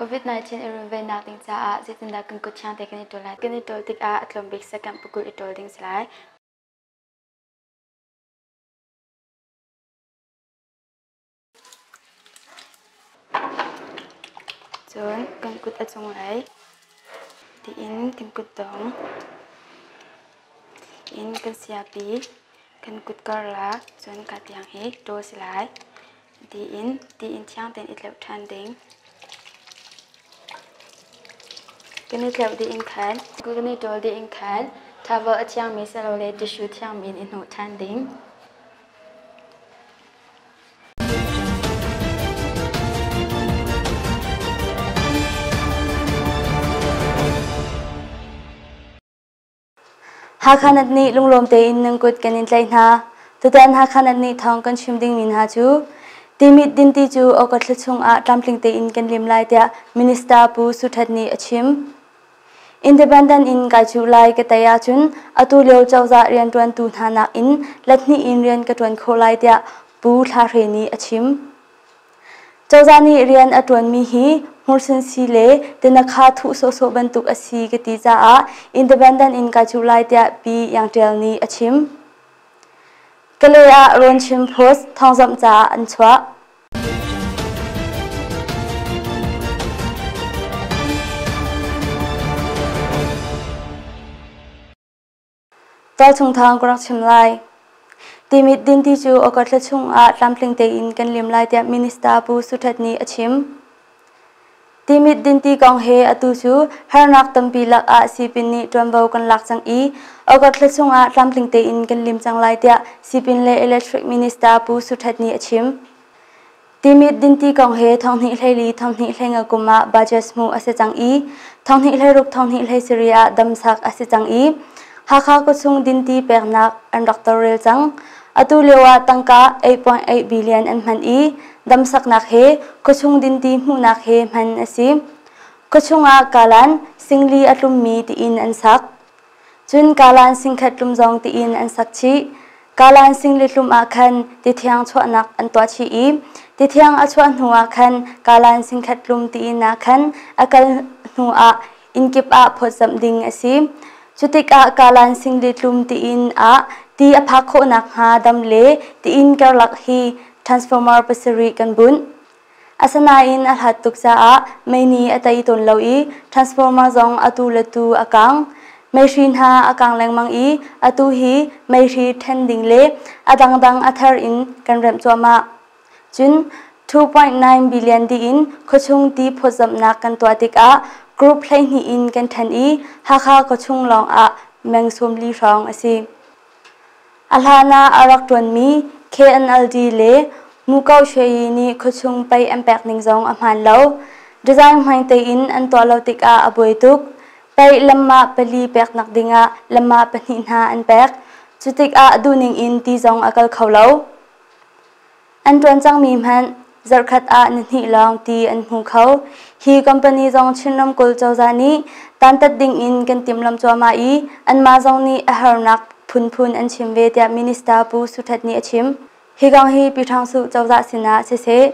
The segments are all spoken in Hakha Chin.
COVID-19 i runvennak ding caah zeitindah kan kuthiang te kan i ṭul lai? Kan i ṭul tikah a tlawmbik second pukul i ṭul ding si lai. Cun kan kut a cung ai tiin kan kut dong in kan siapi kan kut karlah cun kaa tiang hi ṭaw si lai tiin tiin thiang tein i tleuh ṭhan ding kan i tleuh dih in khan kan i ṭawl dih in khan towel a thiangmi silole tissue thiangmi in i hnawh ṭhan ding Hakha Nat nih lunglawm tein nan kut kan in tlaih hna. Tutan Hakha Nat nih thawng kan chim ding mi hna cu Timit dinti cu August thla chung ah tlamtling tein kan lim lai tiah Minister Pu Su Ṭhat nih a chim. Independent in kai chuh lai ka tei ahcun atu lio cozah rianṭuantu hna nakin lathnih in rian ka ṭuan khawh lai tiah Pu Thla Hre nih a chim. Cozah nih rian a ṭuanmi hi hmursinsi le tinakha thuh sawhsawh bantuk a si ka ti caah independent in kai chuh lai tiah Pi Iang Ṭial nih a chim. Kale ah Rawn Chin Post thawngzamh caah an chuah. Ṭawlchungthang ka rak chim lai. Timit dinti cu August thla chung ah tlamtling tein kan lim lai tiah Minister Pu Suthet nih a chim. Timit dinti kong he atu cu harnak tampi lakah sipin nih ṭuanvo kan lak cang i August thla chungah tlamtling tein kan lim cang lai tiah sipin le electric minister Pu Su Ṭhet nih a chim. Timit dinti kong he thonghnih hleili thonghnih hleinga kum ah budget hmuh a si cang i thonghnih hleiruk thonghnih hleisari ah damsak a si cang i Hakha kutchung dinti peknak an rak torrel cang. Atu lioah tangka 8.8 billion an hman i damsaknak he khuachung dinti hmuhnak he hman a si. Khuachung ah kalan singli a tlummi tiin an sak. Cun kalan singkhat tlum zong tiin an sak chih. Kalan singli tlum ah khan tithiang chuahnak an tuah chih i tithiang a chuah hnuah khan kalan singkhat tlum tiin ah khan a kal hnuah inn kip ah phawtzamh ding a si. Cu tikah Kalan Singli tlum tiin ah ti a phak khawh nakhnga dam le tiin karlak hi transformer pasarih kan bunh. Asanain a hlat tuk caah meini a tei tawn lo i transformer zong atu le tu a kang. Meihri hna a kang lengmang i atu hi meihri ṭhen ding le a dangdang a thar in kan remh cuahmah. Cun 2.9 billion diin khuachung ti phawtzamhnak kan tuah tikah group hleihnih in kan ṭhen i Hakha khuachung lawngah meng sawmli hrawng a si. A hlan ah a rak ṭuanmi KNLD le Muko Shwe nih khuachung pei an pek ning zong a hmaan lo. Design hmang tein an tuah lo tikah a buai tuk. Pei lamma pali peknak dingah lamma pahnih hna an pek. Cutikah duhning in ti zong a kal kho lo. An ṭuan cangmi hmanh zarhkhat ah ni hnih lawng ti an hmu kho. Hi company zong Chin ramkulh cozah nih dantat dingin kan timhlamh cuahmah i anmah zong nih a harnak phunphun an chim ve tiah Minister Pu Su Htet nih a chim. Hi kong hi Pi Hrang Suh cozah sinah siseh,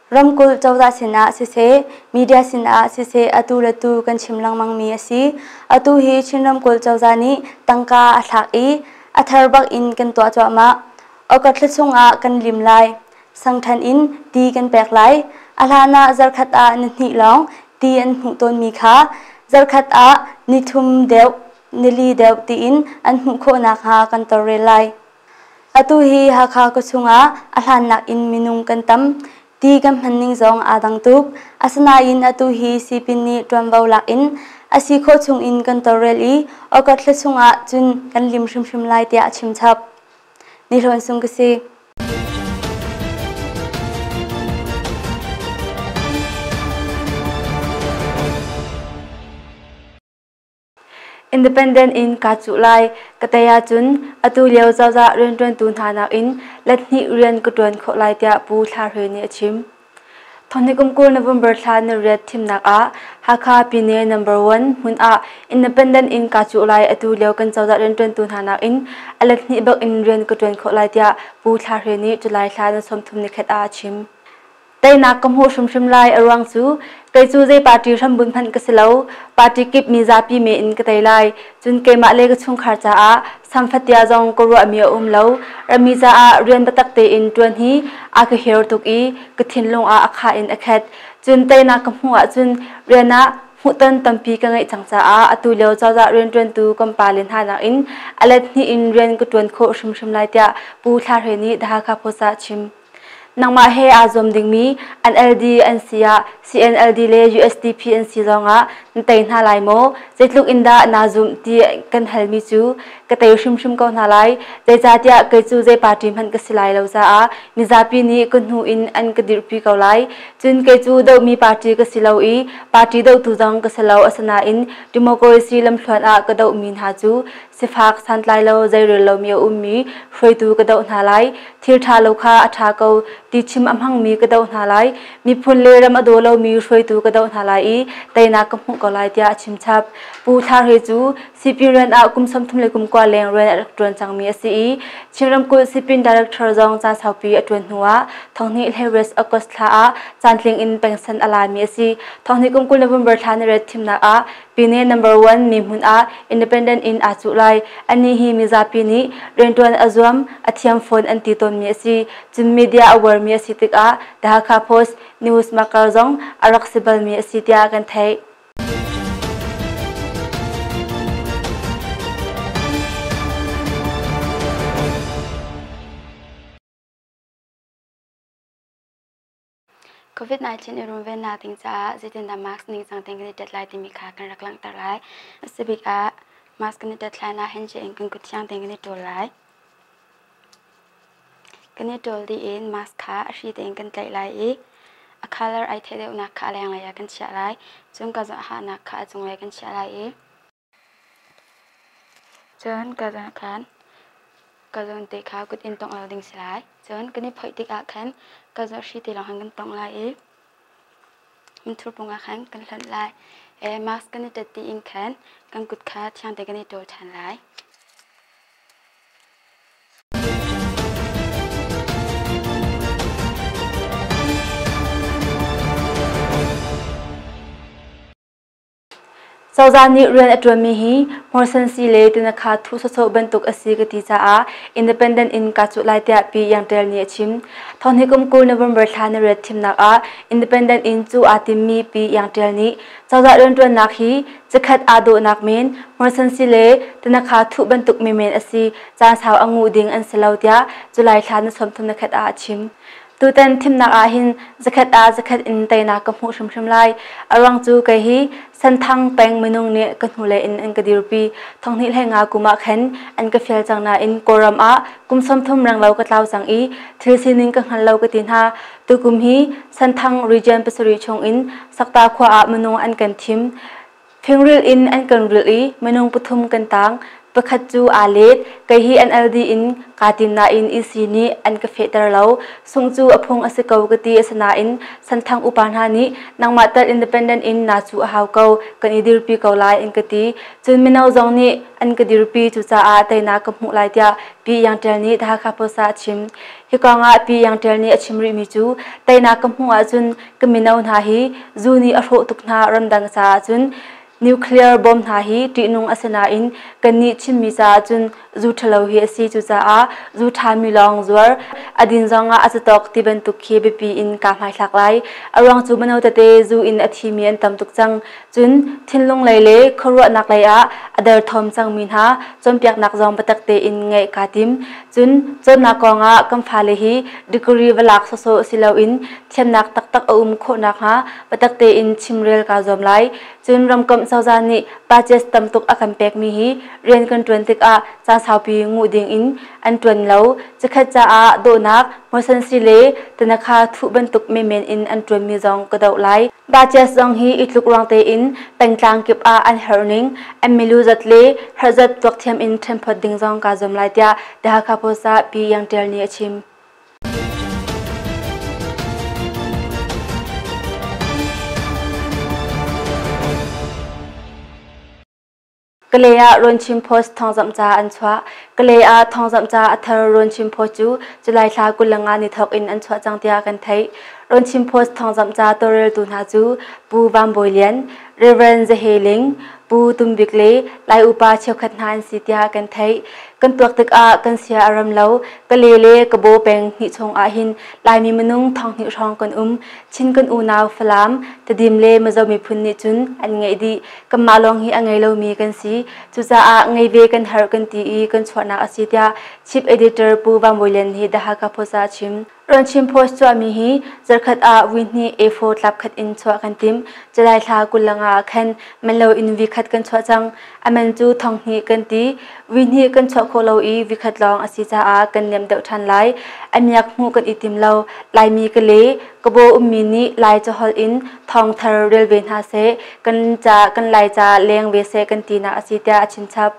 Ramkulh cozah sinah siseh, media sinah siseh atu le tu kan chim lengmangmi a si. Atu hi Chin ramkulh cozah nih tangka a thlak i a thar bak in kan tuah cuahmah. August thla chungah kan lim lai. Sangthan in ti kan pek lai. A hlan ah zarkhat ah ni hnih lawng ti an hmuh tawnmi kha zarkhat ah ni thum deuh, nili deuh tiin an hmuh khawh nakhnga kan tawlrel lai. Atu hi Hakha khuachung ah a hlannak in minung kan tam ti kan hmanning zong aa dang tuk. Asinain atu hi sipin nih ṭuanvo lak in a si khawh chung in kan tawlrel i August thla chung ah cun kan lim hrimhrim lai tiah a chim chap. Ni Hlawn Sung ka si. Independent in kaa cuh lai. Ka tei ahcun atu lio cozah rianṭuantu hna nakin let hnih rian ka ṭuan khawh lai tiah Pu Thla Hlwe nih a chim. Thawhni kum kul November thla na riat thimnak ah Hakha Pyine number one hmun ah independent in kaa cuh lai atu lio kan cozah rianṭuantu hna nakin a let hnih bak in rian ka ṭuan khawh lai tiah Pu Thla Hlwe nih July thla na sawmthum ni khat ah a chim. Teinak ka hmuh hrimhrim lai a ruang cu kei cu zei party hrambun hmanh ka si lo party kip mi zapi me in ka tei lai cun keimah le ka chungkhar caah samfatia zong ka ruahmi a um lo rami caah rian biatak tein ṭuan hi a ka her tuk i ka thinlung ah a kha in a khet cun teinak ka hmuh ahcun rian ah hmuhton tampi ka ngeih cang caah atu lio cozah rianṭuantu kan pale hna nakin a let hnih in rian ka ṭuan khawh hrimhrim lai tiah Pu Thla Hre nih The Hakha Post ah chim. Nangmah he aa zuam dingmi NLD an si ah CNLD le USDP an si zongah na tei hna lai maw? Zeitluk in dah naa zumh ti kan halmi cu ka tei hrimhrim ko hna lai. Zeicahtiah kei cu zei party hmanh ka si lai lo caah mizapi nih ka hnu in an ka dirhpi ko lai. Cun kei cu dohmi party ka si lo i party dohtu zong ka si lo. Asinain democracy lamthluan ah ka dohmi hna cu Sifak santlai lo zeirel lomi a ummi hruaitu ka doh hna lai. Thil ṭha lo kha a ṭha ko ti chim a hmangmi ka doh hna lai. Miphun le ram a daw lomi hruaitu ka doh hna lai i teinak ka hmuh ko lai tiah a chim chap. Pu Thar He cu Sipin rian ah kum sawmthum le kum kua leng rian a rak ṭuan cangmi a si i Chin ramkulh Sipin Director zong caan saupi a ṭuan hnu ah Thonghni hleires August thla ah caantling in pengsan a laimi a si. Thonghni kum kul le bumber thla ni ret thimnak ah Pine number one mi hmun ah independent in aa cuh lai. Anih hi mizapi nih riantuan a zuam, a thiam fawn an ti tawnmi a si. Cun media a uarmi a si tikah The Hakha Post, News Makar zong a rak si balmi a si tiah kan theih. COVID-19 i runvennak ding caah zeitindah mask ningcang tein kan i tet lai timi kha kan rak langhter lai. A si bik ah mask kan i tet hlan ah hand in kan kut thiang tein kan i ṭawl lai. Kan i ṭawl dih in mask kha a hri tein kan tlaih lai i a colour ai theh deuhnak kha a lenglei ah kan chiah lai. Cun ka zawhahnak kha a cunglei kan chiah lai i Cun ka zan ah khan ka zawnte kha kut in tongh lo ding si lai. Cun kan i phoih tikah khan ka zaohri ti lawng khan kan tongh lai i minthurpung ah khan kan hlonh lai i mask kan i tat tiin khan kan kut kha thiangte kan i ṭawl ṭhan lai. Cozah nih rian a ṭuanmi hi Morsensi le Tinakha thuh sawsawh bantuk a si ka ti caah independent in kaa cuh lai tiah Pi Iang Ṭial nih a chim. Thawnghi kum kul November thla na riat thimnak ah independent in cuh aa timmi Pi Iang Ṭial nih cozah rianṭuannak hi cikhat aa dawhnak men Morsensi le Tinakha thuh bantuk menmen a si caan sau a nguh ding an si lo tiah July thla na sawmthum na khat ah a chim. Tutan thimnak ah hin zakhat ah zakhat in teinak ka hmuh hrimhrim lai. A ruang cu kei hi Santhang peng minung nih ka hnule in an ka dirpi. Thonghnih hlei nga kum ah khen an ka fial cang nain Kawlram ah kum sawmthum renglo ka tlau cang i thil sining ka hngal lo ka ti hna. Tukum hi Santhang region pasarih chung in Sakta khua ah minung an kan thim. Thingrilh in an kan rilh i minung pathum kan tang. Pakhat cu aa let. Kei hi an LD in kaa tim nain isi nih an ka fehter lo. Sung cu a phung a si ko ka ti asinain Santhang upa hna nih nangmah tal independent in naa cu a hau ko kan i dirpi ko lai an ka ti. Cun mino zong nih an ka dirpi cucaah teinak ka hmuh lai tiah Pi Iang Ṭial nih The Hakha Post ah a chim. Hi kong ah Pi Iang Ṭial nih a chim rihmi cu teinak ka hmuh ahcun Ka mino hna hi zu nih a hrawh tuk hna ramdang caah cun nuclear bomb hna hi ṭihnung a si nain kannih chimmi caah cun zu ṭhalo hi a si cucaah zu ṭhami lawng zuar a din zong ah a catawk ti bantuk khi biapi in kaa hmaithlak lai a ruang cu mino tete zu in a thimi an tam tuk cang cun thinlung lei le khuaruahnak lei ah a derthawm cangmi hna cawnpiaknak zong biatak tein ngeih kaa tim cun cawnnak kong ah kan fale hi degree va lak sawsawh si loin Thiamnak taktak a um khawh nakhnga biatak tein chimrel kaa zuam lai. Cun ramkomh cozah nih budgets tam tuk a kan pekmi hi rian kan ṭuan tikah caan saupi nguh ding in an ṭuan lo. Cikhat caah dawhnak, hmuasansi le tanakha thuh bantuk menmen in an ṭuanmi zong ka doh lai. Budgets zong hi i tlukruang tein pengtlang kip ah an herh ning an milu zat le herh zat tuakthiam in ṭhenphawt ding zong kaa zuam lai tiah The Hakha Post ah Pi Iang Ṭial nih a chim. Kale ah Runchim Post thawngzamh ca an chuah. Kale ah thawngzamh ca a thar Runchim Post cu July thla kulang ah ni thawk in an chuah cang tiah kan theih. Runchim Post thawngzamh ca tawlreltu hna cu Pu Vam Bawi Lian, Rev. Za He Ling, Pu Tum Bik le Lai upa cheukhat hna an si tiah kan theih. Kan tuak tikah kan sia a ram lo. Ka le le ka baw peng hnih chung ah hin Laimi minung thong hnih hrawng kan um. Chin kan unau Falam, Tadim le Mazo miphun nih cun an ngeih dih. Kanmah lawng hi a ngei lomi kan si. Cucaah ngei ve kan herh kan ti i kan chuahnak a si tiah Chief Editor Pu Van Bawi Lian hi The Hakha Post ah a chim. Ṭuanchim post chuahmi hi zarkhat ah vuihnih A4 tlap khat in chuah kan timh. July thla kulang ah khan manlo in vikhat kan chuah cang. A man cu thawnghnih kan ti. Vuihnih kan chuah khawh lo i vikhat lawng a si caah kan niam deuh ṭhan lai. A miak hmuh kan i tim lo. Laimi ka le, ka baw ummi nih Lai caholh in thawngthar rel ve hna seh. Kan ca kan Laica leng ve seh kan tinak a si tiah a chimchap.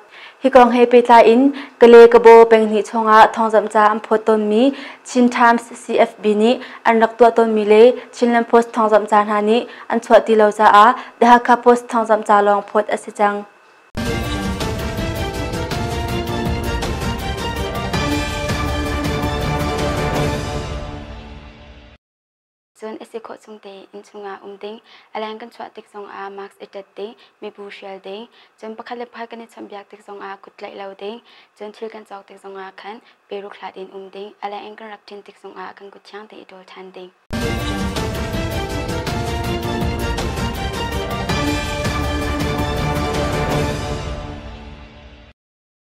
Hi kong he pehtlai in Kalay-Kabaw penghnih chungah thawngzamh ca an phawt tawnmi Chin Times CFB nih an rak tuah tawnmi le Chinland Post thawngzamh ca hna nih an chuah ti lo caah The Hakha Post thawngzamh ca lawng phawt a si cang. Cun a si khawh chung tein inn chungah um ding, a leng kan chuah tik zongah mask i ṭet ding, mibu hrial ding, cun pakhat le pakhat kan i chawnhbiak tik zongah kut tlaih lo ding, cun thil kan cawk tik zongah khan peruk hlat in um ding, a leng in kan rak ṭin tik zongah kan kut thiang tein i ṭawl ṭhan ding.